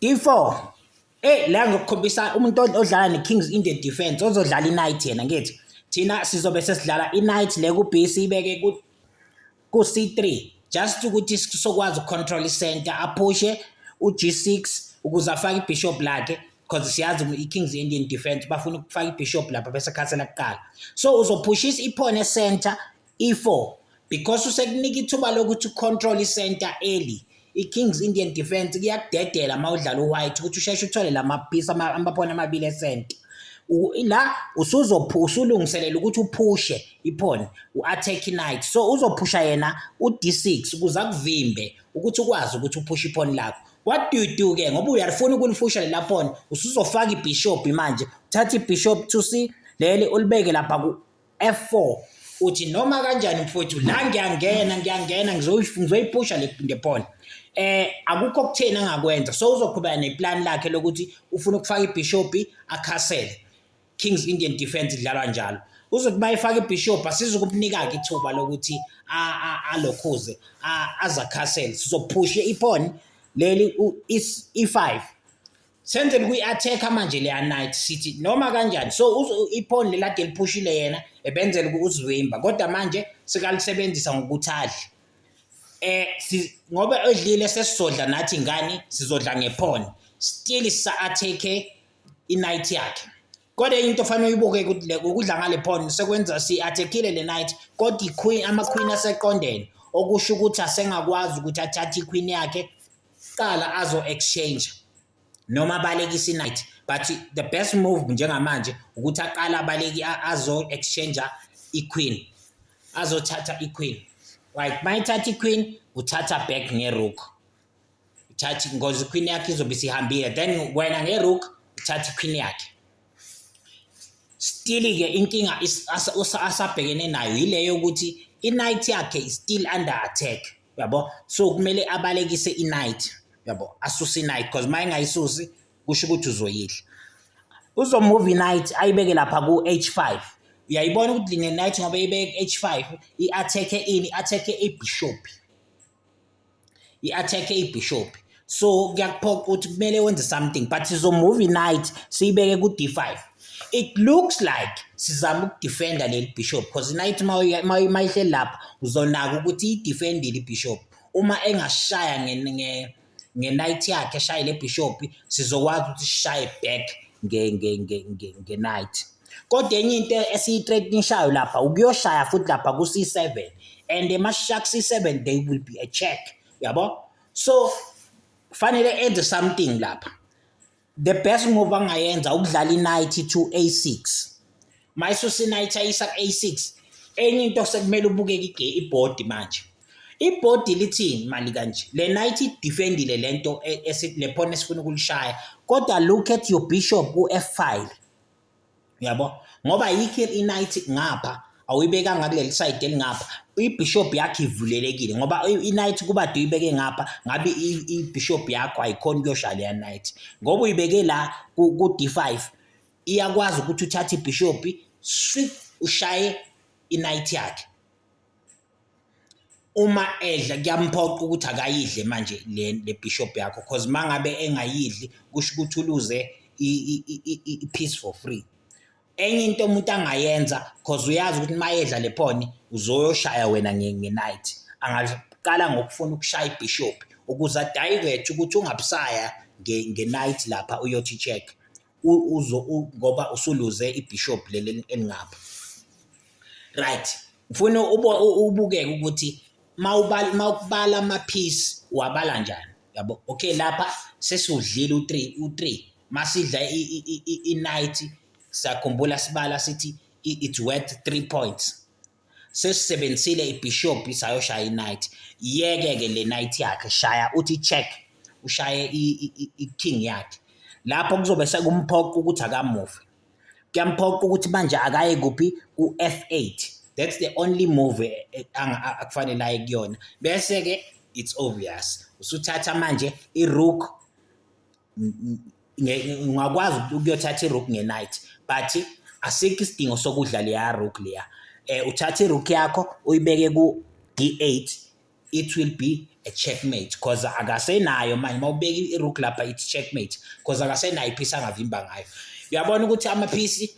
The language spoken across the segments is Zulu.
D4 Eyi la ngizokukhombisa umuntu odlala ne-Kings in the defence ozodlala i-night yena ngithi thina sizobe sesidlala i-night le ku-B siyibeke ku-C3 just ukuthi sokwazi uku-control i-center aphushe u-G6 ukuze afake ibishop lakhe because siyazi i-Kings Indian defence bafuna ukufaka ibishop lapha bese khansela kuqala so uzophushisa iphone e-center I-4 because usekunika ithuba lokuthi ucontrol i-center early i-Kings Indian defense kuyakudedela uma udlala u-white ukuthi usheshe uthole la maphisi amaphoni amabili esenta la usulungiselela ukuthi uphushe iphoni u-attack night so uzophusha yena u-d6 ukuze akuvimbe ukuthi ukwazi ukuthi uphushe iphoni lakho what do you do ke ngoba uyalifuna ukulifusha lela phoni usuzofaka ibishop manje uthatha ibishop to c leli ulibeke lapha F4 uthi noma kanjani mfowethu la ngiyangena ngiyangena ngizoyipusha le phone eh akukho kutheni angakwenza so uzoqhubeka neplan lakhe lokuthi ufuna ukufaka ibishop akhasele Kings Indian defense idlalwa njalo uzothi bayifaka ibishop asizukumnika ke ithuba lokuthi alokhuze azakhasele sizophushe iphone leli i5 senzeni kuyi-attack-a manje leya night sithi noma kanjani so iphone lelade eliphushile yena ebenzela ukuzivimba kodwa manje sikalisebenzisa ngokuthi adle eh ngoba edlile sesizodla nathi ngani sizodla ngephone still sa-attack-e i-night yakhe kodwa into ofanele uyibuke ukuthi le ukudla ngale phone sekwenza si-attack-ile le night kodwa iqueen ama-queen aseqondene okusho ukuthi asengakwazi ukuthi athathe iqueen yakhe Sicala azo exchange noma abalekise inight but the best move njengamanje ukuthi aqale abaleki azo exchange iqueen azothatha iqueen right mayithatha iqueen uthatha back ngerook uthatha ngozi queen yakhe izobe sihambile then wena ngerook uthatha iqueen yakhe still ke inkinga asabhekene nayo yileyo ukuthi inight yakhe is still under attack yabo so kumele abalekise inight yabo asuse inight because uma engayisusi kusho ukuthi uzoyidla uzomove inight ayibeke lapha ku-h5 uyayibona ukuthi line night ngoba ibeke h5 i-attack-e ini i-attack-e ibishop i-attack-e ibishop so kuyakuphoqa ukuthi kumele wenze something but sizomuva inight siyibeke ku-d5 it looks like sizama ukudefenda leli bishop because inight mayihle lapha uzonaka ukuthi idefendile ibishop uma engashaya nge-night yakhe eshaye le bishop sizokwazi ukuthi sishaye back nge-night kodwa enye into esiyi-threatnishayo lapha ukuyoshaya futhi lapha ku-c7 and emashark c7 they will be a check yabo so fanele enze something lapha the best move angayenza ukudlala i-night to a6 mayisusa i-night ayisa ku-a6 enye into sekumele ubukeke ibhodi manje ibhodi lithini mali kanje le night idefendile le nto e, le phone esifuna ukulishaya kodwa look at your bishop u-f5 uyabo ngoba ayikho i-night ngapha awuyibekanga kuleli side elingapha ibishop yakhe ivulelekile ngoba i-night kuba do uyibeke ngapha ngabe ibishop yakho ayikhona ukuyosha leya night ngoba uyibeke la ku-d5 iyakwazi ukuthi uthathe ibishop swi ushaye i-night yakhe Uma edla kuyamphoqa ukuthi akayidle manje le le bishop yakho cause mangabe engayidli kusho ukuthi uluze i-peace for free. Enye into umuntu angayenza cause uyazi ukuthi mayedla le phone uzoyoshaya wena nge-night, angaqala ngokufuna ukushaya ibhishobhi ukuze a-divert ukuthi ungabusaya nge-night lapha uyothi check. uzo ngoba usuluze ibishop leli elingapha right ngifuna ubukeke ukuthi mawubala mawubala ama piece wabala njani yabo okay lapha sesudlile u3 u3 masidla i night sakhumbula sibala sithi it's worth 3 points sesisebenzisile ibishop sayoshaya inight iyeke ke le night yakhe shaya uthi check ushaye i-king yakhe lapho kuzobe sekumphoqa ukuthi akamuve kuyamphoqa ukuthi manje akaye kuphi ku-f8 that's the only move eh, eh, akufanele aye kuyona bese-ke it's obvious usuthatha manje i-rook ngingakwazi ukuyothatha irook nge-night but asikho isidingo sokudla leya rook leya um uthatha irook yakho uyibeke ku-d eight it will be a checkmate because akasenayo manje uma ubeka irook lapha ithi checkmate because akasenayo iphisi angavimba ngayo uyabona ukuthi amaphisi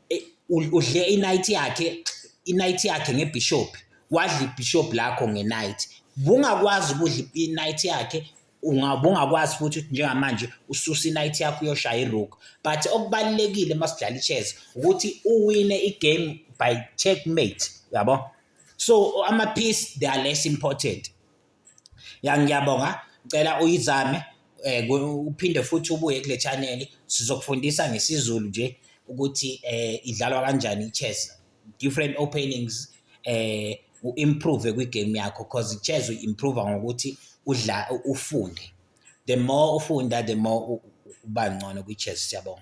eh, udle i-night yakhe i-night yakhe ngebishop wadla ibishop lakho nge-night bungakwazi ukudla i-night yakhe ubungakwazi futhi ukuthi njengamanje ususa i-night yakho uyoshaya i-rook but okubalulekile uma sidlala i-chess ukuthi uwine i-game by checkmate yabo so ama-piece they are less important ya ngiyabonga ngicela uyizame um uphinde futhi ubuye kule chaneli sizokufundisa ngesiZulu nje ukuthi um idlalwa kanjani i-chess different openings eh u-improve kwi-game yakho because chess u-improve ngokuthi udla ufunde the more ufunda the more uba ngcono kwi-chess siyabonga